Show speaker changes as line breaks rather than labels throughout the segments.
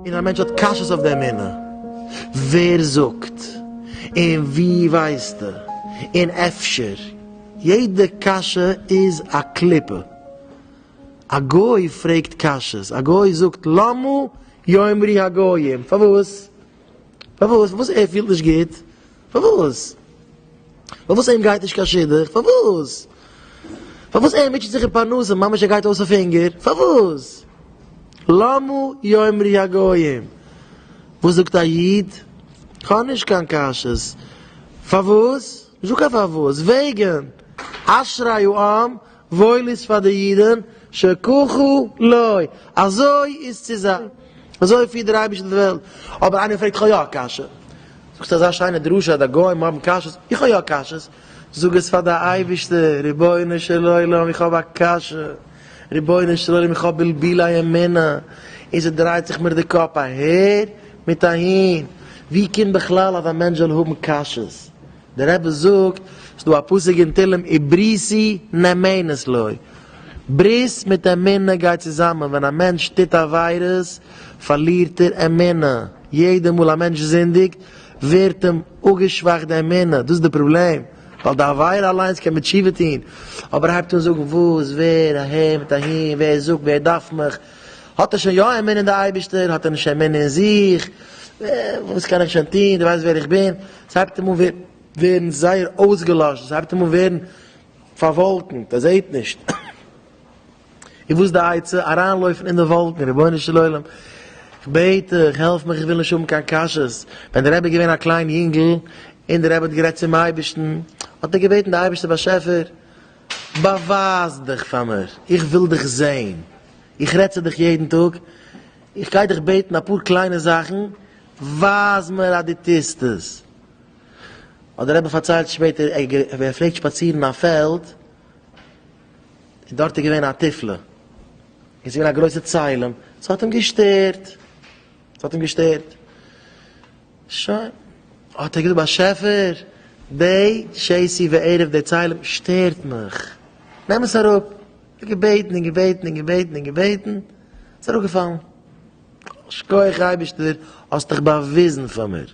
און א מענטש האט קשיות אויף די אמונה, ווער זאגט? און ווי ווייסטו? און אפשר? יעדע קשיא איז א קליפה. א גוי פרעגט קשיות, א גוי זאגט למה יאמרי הגויים, פארוואס? פארוואס? פארוואס ער פילט נישט גוט? פארוואס? פארוואס אים גייט נישט קיין שידוך? פארוואס? פארוואס ער מיטשעט זיך אין פרנסה ממש ער גייט אויס אויף הונגער? פארוואס? למה יאמרי הגויים? וואס זאגט א איד? כ'האב נישט קיין קשיות. פארוואס? נישטא קיין פארוואס. וועגן. אשרי העם וואויל איז פאר די אידן, שכחו לוי, אזוי איז צו זיין, אזוי פירט דער אייבערשטער די וועלט, אבער איינער פרעגט איך האב יא א קשיא, זאגסטו אזא שיינע דרשה אז די גוים האבן קשיות, איך האב יא קשיות, זאג עס פאר די אייבערשטער, רבונו של עולם איך האב א קשיא, רבונו של עולם איך האב בלבולי אמונה, און ס'דרייט זיך מיר די קאפ אהער מיט אהין, ווי קומט בכלל אז א מענטש זאל האבן קשיות? דער רבי זאגט, ס'איז דא א פסוק אין תהלים איבריסי נאמנת לוי, ברית מיט אמונה גייט צוזאמען, ווען א מענטש טוט עבירות פארלירט ער אמונה, יעדע מאל א מענטש זינדיגט ווערט אים אפגעשוואכט די אמונה, דאס איז די פראבלעם, ווייל די עבירה אליינס קען מען תשובה טון, אבער הייבט אן זאגן וואס, ווער, אהער מיט אהין, ווער זאגט, ווער דארף מיך, האט ער שוין יא אמונה אין די אייבישטער? האט ער נישט אמונה אין זיך? וואס קען איך שוין טון? דו ווייסט ווער איך בין? עס הייבט אים אן ווערן זייער אויסגעלאשן, עס הייבט אים אן ווערן פארוואלקנט, ער זעט נישט. איז וואס די עצה? אריינלויפן אין די וואלקן, רבונו של עולם, איך בעט דיך, העלף מיך, איך וויל נישט האבן קיין קשיות. ווען דער רבי איז געווען א קליין יונגל, און דער רבי האט גערעדט צום אייבישטן, האט ער געבעטן די אייבישטער באשעפער, באווייז דיך פאר מיר, איך וויל דיך זען, איך רעד צו דיך יעדן טאג, איך גיי דיך בעטן אפאר קליינע זאכן, ווייז מיר אז דו טוסט עס. האט דער רבי פארציילט שפעטער, ער האט געפלעגט שפאצירן אין א פעלד, און דארט איז געווען א תפלה, און עס איז געווען א גרויסע צלם, עס האט אים געשטערט, ס'האט אים געשטערט. שוין. האט ער געזאגט, באשעפער, די שעשי וערב די צלם שטערט מיך. נעם עס אראפ. ער האט געבעטן און געבעטן און געבעטן און געבעטן. ס'איז אראפגעפאלן. שכוח אייבערשטער, האסט דיך באוויזן פאר מיר.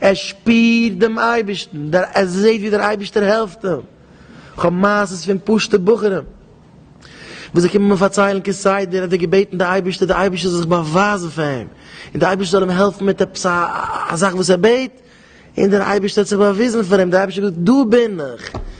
ער שפירט דעם אייבערשטן, ער זעט ווי דער אייבערשטער העלפט אים, איך האב מעשות פון פשוטע בחורים וואס זיי קומען מיר פארציילן כסדר אז זיי געבעטן די אייבערשטער, די אייבערשטער זאל זיך באווייזן פאר אים, און די אייבערשטער זאל אים העלפן מיט עפעס א זאך וואס ער בעט, און דער אייבערשטער האט זיך באוויזן פאר אים, דער אייבערשטער האט געזאגט דא בין איך.